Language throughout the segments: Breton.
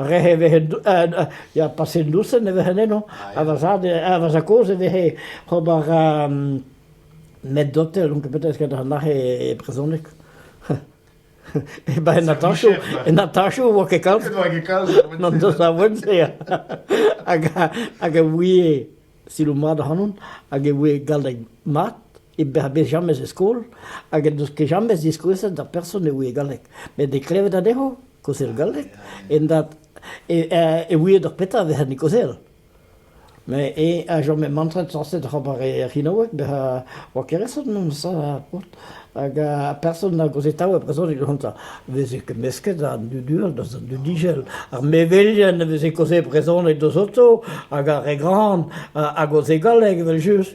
Rehe vehe ya paset dousen e vehen eno ha va zad ha va zad-kozh e vehe ober med-dotel donc peut-être ket an aze e brezhoneg e-barzh an attaché an attaché e oa ket kalz n'en deus awen-se hag a ouie siloù mat ac'hanon hag e ouie galleg mat e berzh jamez e skol hag en deus ket jamez diskouezet d'ar person e ouie galleg. Met e klevet anezho kaozel galleg, en dat e ouie d'ur petra vezent e kaozel. Mais e a jamais mantret sañset ober ar c'hinaoueg bezañ oa kereset mont ça hag a person a gozetaoù a brezhoneg gonta veze ket mesket an dudur da an dudijel ar mevelien a veze kaoze brezhoneg deus oto hag ar re gran a goze galleg evel just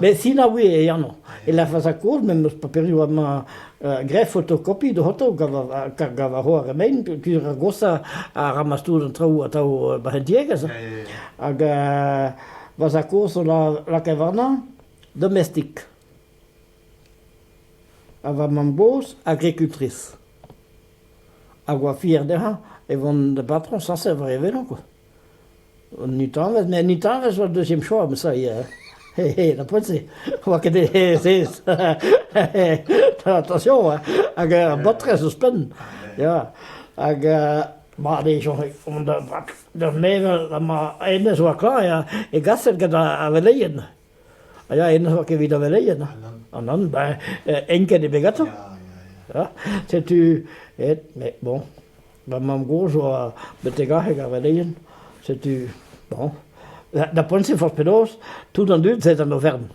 Met sinaouiñ e anv. E lârfas ar koulz met 'm eus paperioù amañ graet fotokopi dezhañ kar gav a ro ar re mein peogwir ar goshañ a ramas tout an traoù atav ba an tiegezh. Hag va zad-kozh zo lakaet warnañ domestik. Ha va mamm-gozh agricultrice. Hag oa fier dezhañ e vont da batron sañset war e velo. An nutanvezh, met an nutanvezh oa deuxième choix ma savez da poent-se, oa ket sez attention hein, hag ar baotrez ouzhpenn ya hag mat eo soñj d'ur mevel ha ma hennezh oa klañv e gaset gant ar veleien ya hennezh oa ket evit ar veleien an An ben enket eo bet gantañ ya setu aet mais bon Va mamm-gozh a oa betek arc'heg ar veleien, setu bon. Da poent-se forzh penaos, tout an dud 'z ae d'an Aovern.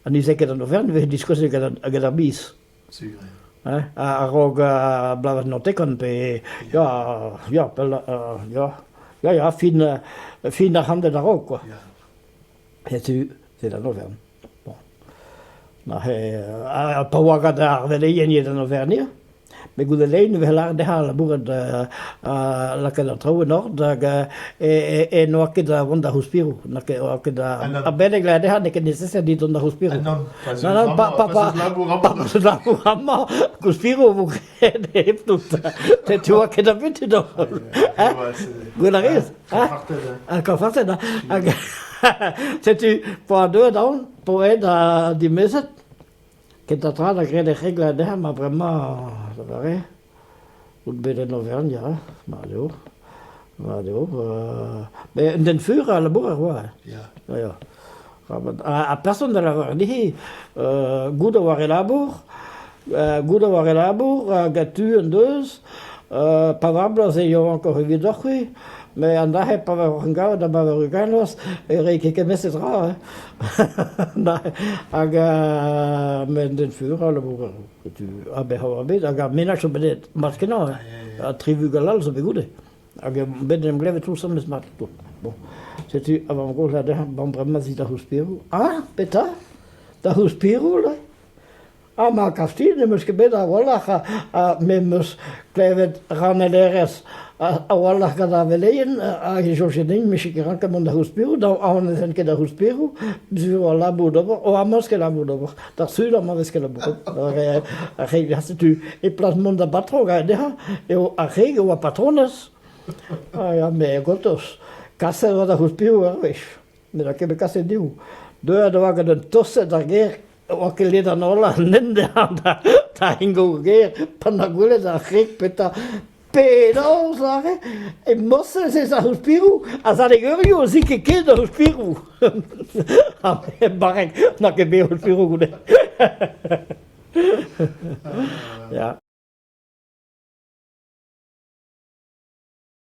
Ha ne 'z ae ket d'an Aovern, e vefe diskouezet gant ar biz. Sur eo. A-raok bloavezh naontekant pe ya, ya, pell, ya, ya, ya, fin, fin ar c'hantved a-raok, quoi. Setu, se d'an Aovern. Bon. Neuze, ha pa oa gant ar veleien eo d'an Aovern eo, met goude lein e vez lâret dezhañ labourat lakaat an traoù en ordre hag e n'oa ket da vont da c'houspiro. N'oa ket da... Ha beleg lâret dezhañ n'eo ket necessaire dit dont da c'houspiro. Non, non, pa labour amañ, gouspiro vo hep dout. Tu oa ket abutud holl. Gwell a rez? Ha kafartet, ha? Setu, po a deuet aon, po ed a dimezet, ket a tra da gred e c'hegl a der, ma bremañ, da bare, out bet en Auvergne, ma leo, Mat eo. Met un den fur a labourer oa. Ya. Ya. Ha person da lavaret dit, goût a war e labour, goût a war e labour, gant tu en deus, pa vablas e eo ankor evidoc'h c'hwi, met an dac'he pa var en gavet da ba var ugalos, e rei ket kemesez ra. Hag met den fur a labourer. Aber ar bed hag ar menaj zo bet mat-kenañ ha tri vugel all zo bet goude hag bet en em glevet tous memes mat tout bon setu a vamm-gozh ha dezhañ bon bremañ zi da c'houspiroù ah petra da c'houspiroù là ah ma kafti n'em eus ket bet a-walc'h ha me 'm eus klevet ranellerez a-walc'h gant ar veleien hag e soñje din me ket ranket mont da c'houspiroù dañ aon ne fen ket da c'houspiroù zo al labour d'ober o amos ket labour d'ober da sul amañ vez kelabourret ar re setu e plas mont da batro ga dezhañ eo ar re a oa patronez ha me gotos kaset oa da c'houzh piv ur wech ne da ket bet kaset div deuet oa gant un toset ar gêr oa ket ledan hola nen dezhañ da ingo gêr pan da gwelet ar c'hreg petra Penaos aze emañ-se ez aospirou? Ar sadegerioù zi ket ket aospirou. Barrek n'a ket bet aospirou goude. Ya.